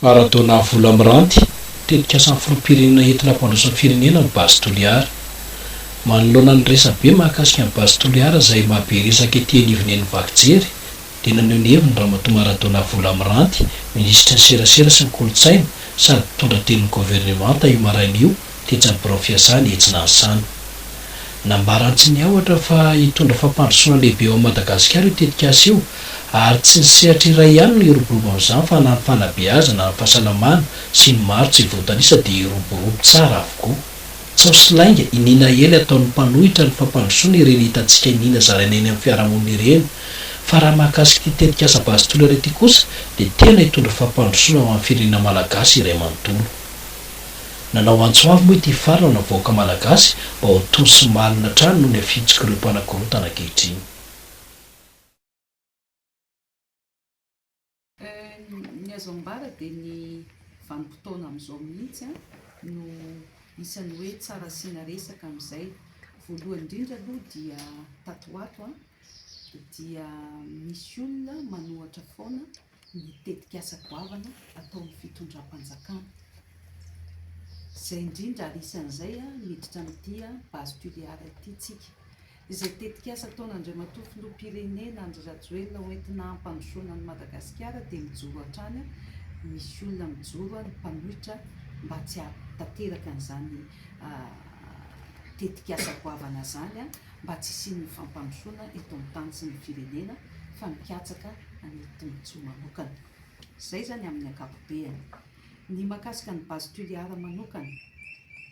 Maradona vola miranty, tetikasan'ny filoham-pirenena entina hampandroso ny firenena ny Base Toliara. Manoloana ny resabe mahakasika ny Base Toliara izay mahabe resaka ety anivon'ny vaky jery dia naneho ny heviny Ramatoa Maradona vola miranty, minisitry ny serasera sy ny kolontsaina sady mpitondra tenin'ny governemanta io maraina io, tetsy amin'ny birao fiasany etsy Nansana. Nambaran-Tsiniahotra fa hitondra fampandrosoana lehibe eo amin'i Madagasikara io tetikasa io ary tsy ny sehatra iray ihany no hiroborobo amin'izany fa na ny fanabeazana, ny fahasalamana sy ny maro tsy voatanisa dia hiroborobo tsara avokoa. Tsaho sy lainga, iniana ela ataon'ny mpanohitra ny fampandrosoana ireny hitantsika iniana zaraina eny amin'ny fiarahamonina ireny fa raha mahakasika ity tetikasa Base Tolera ity kosa dia tena hitondra fampandrosoana ho an'ny firenena Malagasy iray manontolo. Nanao antso avo moa ity farany ny vahoaka Malagasy mba ho tony sy malina hatrany noho ny afitsok'ireo mpanakorontana ankehitriny. Ny azo ambara dia ny vanim-potoana amin'izao mihitsy no isan'ny hoe tsara asiana resaka amin'izay. Voalohany indrindra aloha dia tato ho ato dia misy olona manohatra foana ny tetikasa goavana ataon'ny fitondram-panjakana. Izay indrindra ary isan'izay miditra amin'ity Base Tuléar ity tsika. Izay tetikasa ataon'Andriamatoa Filoham-pirenena Andry Rajoelina hoentina hampandrosoana an'i Madagasikara dia mijoro hatrany, misy olona mijoro ny mpanohitra mba tsy hahatanteraka an'izany tetikasa goavana izany, mba tsy hisian'ny fampandrosoana eto amin'ny tany sy ny firenena fa mikatsaka. an'ilay tombontsoa manokana. Izay izany amin'ny ankapobeany. Ny mahakasika an'i Base Tuléar manokana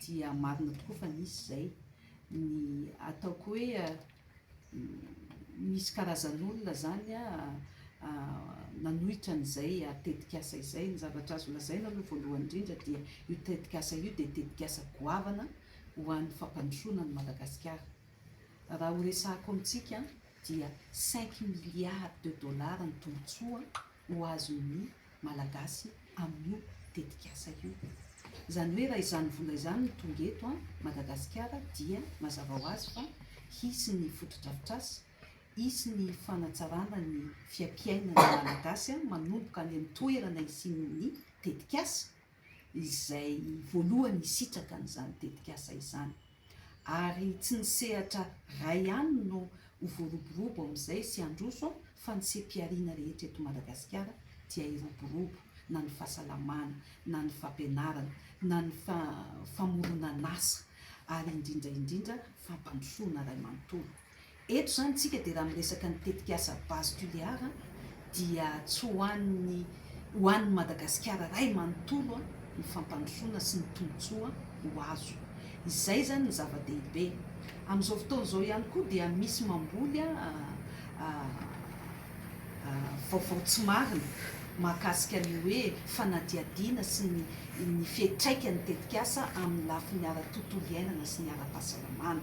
dia marina tokoa fa nisy izay. Ny ataoko hoe misy karazan'olona izany nanohitra an'izay tetikasa izay. Ny zavatra azo lazaina aloha voalohany indrindra dia io tetikasa io dia tetikasa goavana ho an'ny fampandrosoana an'i Madagasikara. Raha horesahako amintsika dia cinq milliards de dollars ny tombontsoa ho azon'ny Malagasy amin'io tetikasa io. Izany hoe raha izany vola izany no tonga eto Madagasikara dia mazava ho azy fa hisy ny fotodrafitrasa, hisy ny fanatsarana ny fiapiainan'ny Malagasy manomboka any amin'ny toerana hisian'ny tetikasa. izay voalohany hisitraka an'izany tetikasa izany, ary tsy ny sehatra ray ihany no ho voaroborobo amin'izay sy handroso fa ny seha-pihariana rehetra eto Madagasikara dia hiroborobo, na ny fahasalamana, na ny fampianarana, na ny famoronan'asa, ary indrindra indrindra fampandrosoana ray manontolo. Eto izany isika dia raha miresaka ny tetikasa Base Tuléar dia tsy ho an'ny ho an'ny Madagasikara iray manontolo ny fampandrosoana sy ny tombontsoa ho azo. Izay izany ny zava-dehibe. Amin'izao fotoana izao ihany koa dia misy mamboly vaovao tsy marina mahakasika ny hoe fanadihadiana sy ny ny fiantraikan'ny tetikasa amin'ny lafiny ara-tontolo iainana sy ny ara-pahasalamana.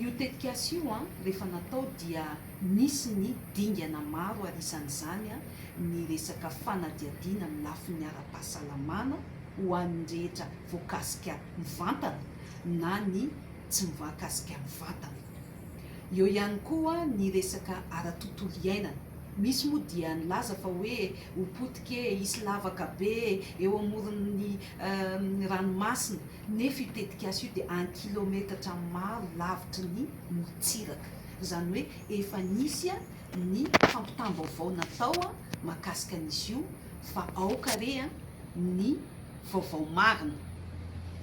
Io tetikasa io rehefa natao dia nisy ny dingana maro ary isan'izany ny resaka fanadihadiana amin'ny lafiny ara-pahasalamana ho an'ny rehetra voakasika mivantana na ny tsy mivakasika mivantana. Eo ihany koa ny resaka ara-tontolo iainana. Misy moa dia nilaza fa hoe ho potika e, hisy lavaka be e, eo amoron'ny ranomasina nefa io tetikasa io dia an kilometatra maro lavitry ny morontsiraka, izany hoe efa nisy an ny fampitam-baovao natao an makasika an izy io fa aoka re an ny vaovao marina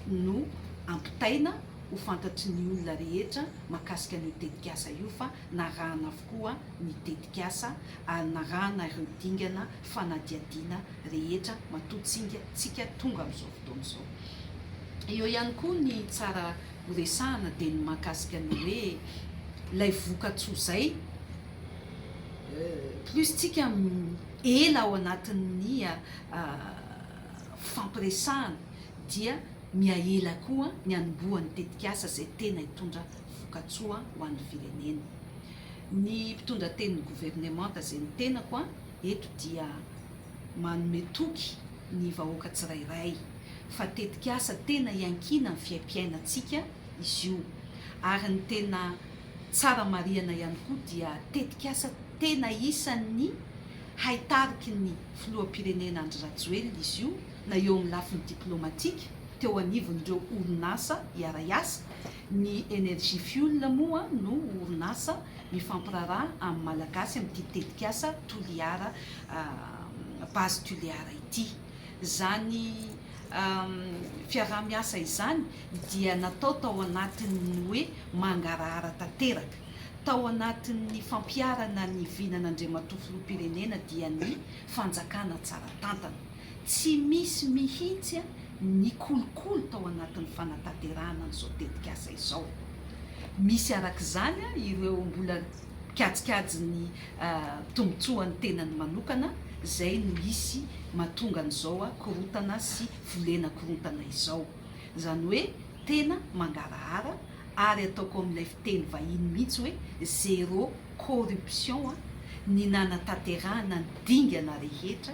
no ampitaina ho fantatry ny olona rehetra makasika an io tetikasa io fa narahana avokoa ny tetikasa ary narahana ireo dingana fanadihadiana rehetra matoa tsinga tsika tonga am zao Don zao. Eo ihany koa ny tsara horesahana dia ny mahakasika ny hoe ilay vokatsoa zay plus tsika ela ao anatin'ny fifampiresahana dia mihaela koa ny hanombohan'ny tetikasa izay tena hitondra vokatsoa ho an'ny firenena. Ny mpitondra tenin'ny governemanta izay ny tenako eto dia. manome toky ny vahoaka tsirairay fa tetikasa tena iankiana amin'ny fiaimpiainantsika izy io ary ny tena tsara marihana ihany koa dia tetikasa tena isan'ny haitariky ny filoham-pirenena Andry Rajoelina izy io na eo amin'ny lafiny diplaomatika teo anivon'ireo orinasa hiara-hiasa Ny Energy Fuel moa no orinasa mifampiraharaha amin'ny Malagasy amin'ity tetikasa Toliara Base Tuliara ity. Izany fiaraha-miasa izany dia natao tao anatin'ny hoe mangarahara tanteraka. Tao anatin'ny fampiharana ny vinan'Andriamatoa Filoham-pirenena dia ny fanjakana tsara tantana. Tsy misy mihitsy ny kolikoly tao anatin'ny fanatanterahana an'izao tetikasa izao. Misy araka izany ireo mbola mikajikajy ny tombontsoan'ny tenany manokana izay no hisy mahatonga an'izao korontana sy volena korontana izao. Izany hoe tena mangarahara ary ataoko amin'ilay fiteny vahiny mihitsy hoe zero corruption ny nanatanterahana ny dingana rehetra